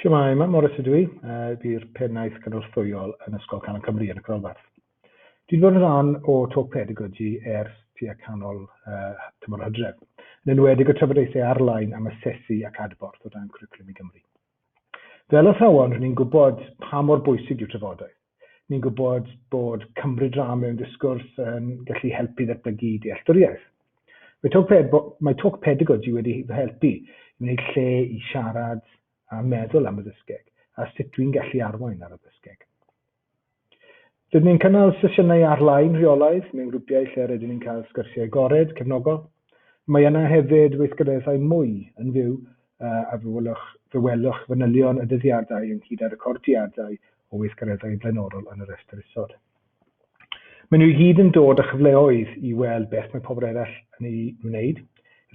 Shwmae, Mam Morris ydw i, a ydy'r Pennaeth Gynorthwyol yn Ysgol Canol Cymru yn y Crolfarth. Dwi 'di bod yn rhan o Talk Pedagogy ers tua canol uh, tymor o hydref, yn enwedig y trafodaethau arlain am asesu ac adborth o dan Cwricwlwm i Gymru. Fel athrawon, rydyn ni'n gwybod pa mor bwysig yw trafodaeth, Ni'n gwybod bod cymryd rhan mewn disgwrs yn gallu helpu i ddatblygu dealltwriaeth. Mae Talk, Ped- mae Talk Pedagogy wedi fy helpu i wneud lle i siarad a meddwl am y ddysgeg a sut dwi'n gallu arwain ar y ddysgeg. Rydyn ni'n cynnal sesiynau ar-lein rheolaidd mewn grwpiau lle rydyn ni'n cael sgyrsiau agored, cefnogol. Mae yna hefyd weithgareddau mwy yn fyw a fe welwch, fe welwch fanylion y dyddiadau ynghyd â recordiadau o weithgareddau blaenorol yn y rhestr isod. Maen nhw i gyd yn dod â chyfleoedd i weld beth mae pobl eraill yn ei wneud,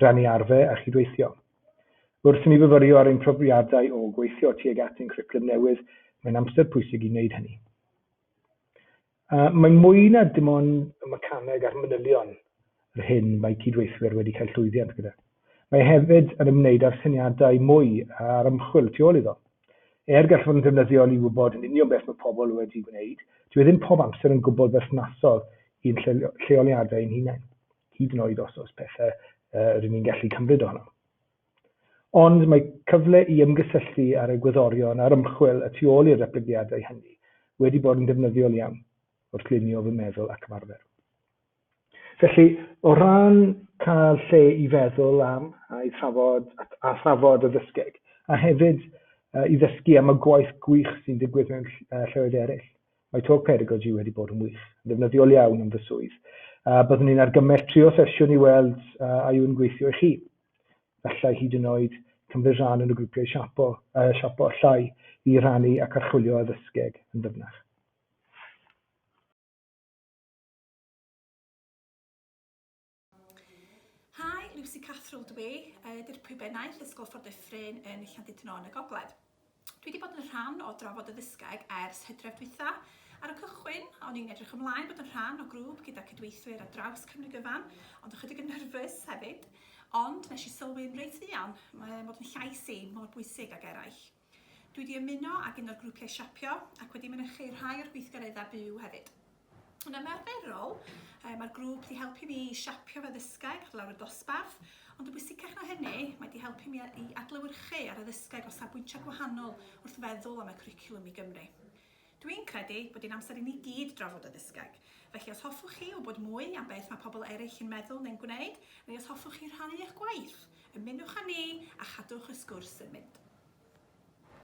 rannu arfer a chydweithio. Wrth i ni fyfyrio ar ein profiadau o gweithio tuag at ein cwricwlwm newydd, mae'n amser pwysig i wneud hynny. Yy, mae mwy na dim ond y mecaneg a'r manylion yr hyn mae cydweithwyr wedi cael llwyddiant gyda. Mae hefyd yn ymwneud â'r syniadau mwy a'r ymchwil tu ôl iddo. Er gall fod yn ddefnyddiol i wybod yn union beth mae pobl wedi gwneud, dyw e ddim pob amser yn gwbl berthnasol i'n lleoliadau ein hunain, hyd yn oed os oes pethau yy rŷn ni'n gallu cymryd ohonom. Ond mae cyfle i ymgysylltu â'r egwyddorion a'r ymchwil y tu ôl i'r datblygiadau hynny wedi bod yn ddefnyddiol iawn wrth lunio fy meddwl ac ymarfer. Felly, o ran cael lle i feddwl am a i thrafod a thrafod y ddysgeg, a hefyd i ddysgu am y gwaith gwych sy'n digwydd mewn lleoedd eraill, Mae Talk Pedagogy wedi bod yn wych, yn ddefnyddiol iawn yn fy swydd, a byddwn ni'n argymell trio sesiwn i weld a yw'n gweithio i chi. Gallai hyd yn oed cymryd rhan yn y grwpiau siapo, uh, siapo allai i rannu ac archwilio addysgeg yn ddyfnach. Hi, Lucy Cathrall dw i, y Dirprwy Bennaeth, Ysgol Ffordd Dyffryn yn Llandudno yn y Gogledd. Dwi wedi bod yn rhan o Drafod y Ddysgeg ers hydref dwytha. Ar y cychwyn, o'n i'n edrych ymlaen bod yn rhan o grŵp gyda cydweithwyr ar draws Cymru gyfan, ond ychydig yn nyrfys hefyd. Ond nes i sylwi'n reit fuan, mae bod yn llais i mor bwysig ag eraill. Dwi 'di ymuno ag un o'r grwpiau siapio ac wedi mynychu rhai o'r gweithgareddau byw hefyd. Yn ymarferol, mae'r grŵp 'di helpu fi i siapio fy addysgeg ar lawr y dosbarth, ond yn bwysicach na hynny, mae 'di helpu mi i adlewyrchu ar addysgeg o safbwyntiau gwahanol wrth feddwl am y cwricwlwm i Gymru. Dwi'n credu bod hi'n amser i ni gyd drafod y Ddysgeg. Felly os hoffwch chi wybod mwy am beth mae pobl eraill yn meddwl neu'n gwneud, neu os hoffwch chi rhannu eich gwaith, ymunwch â ni a chadwch y sgwrs yn mynd.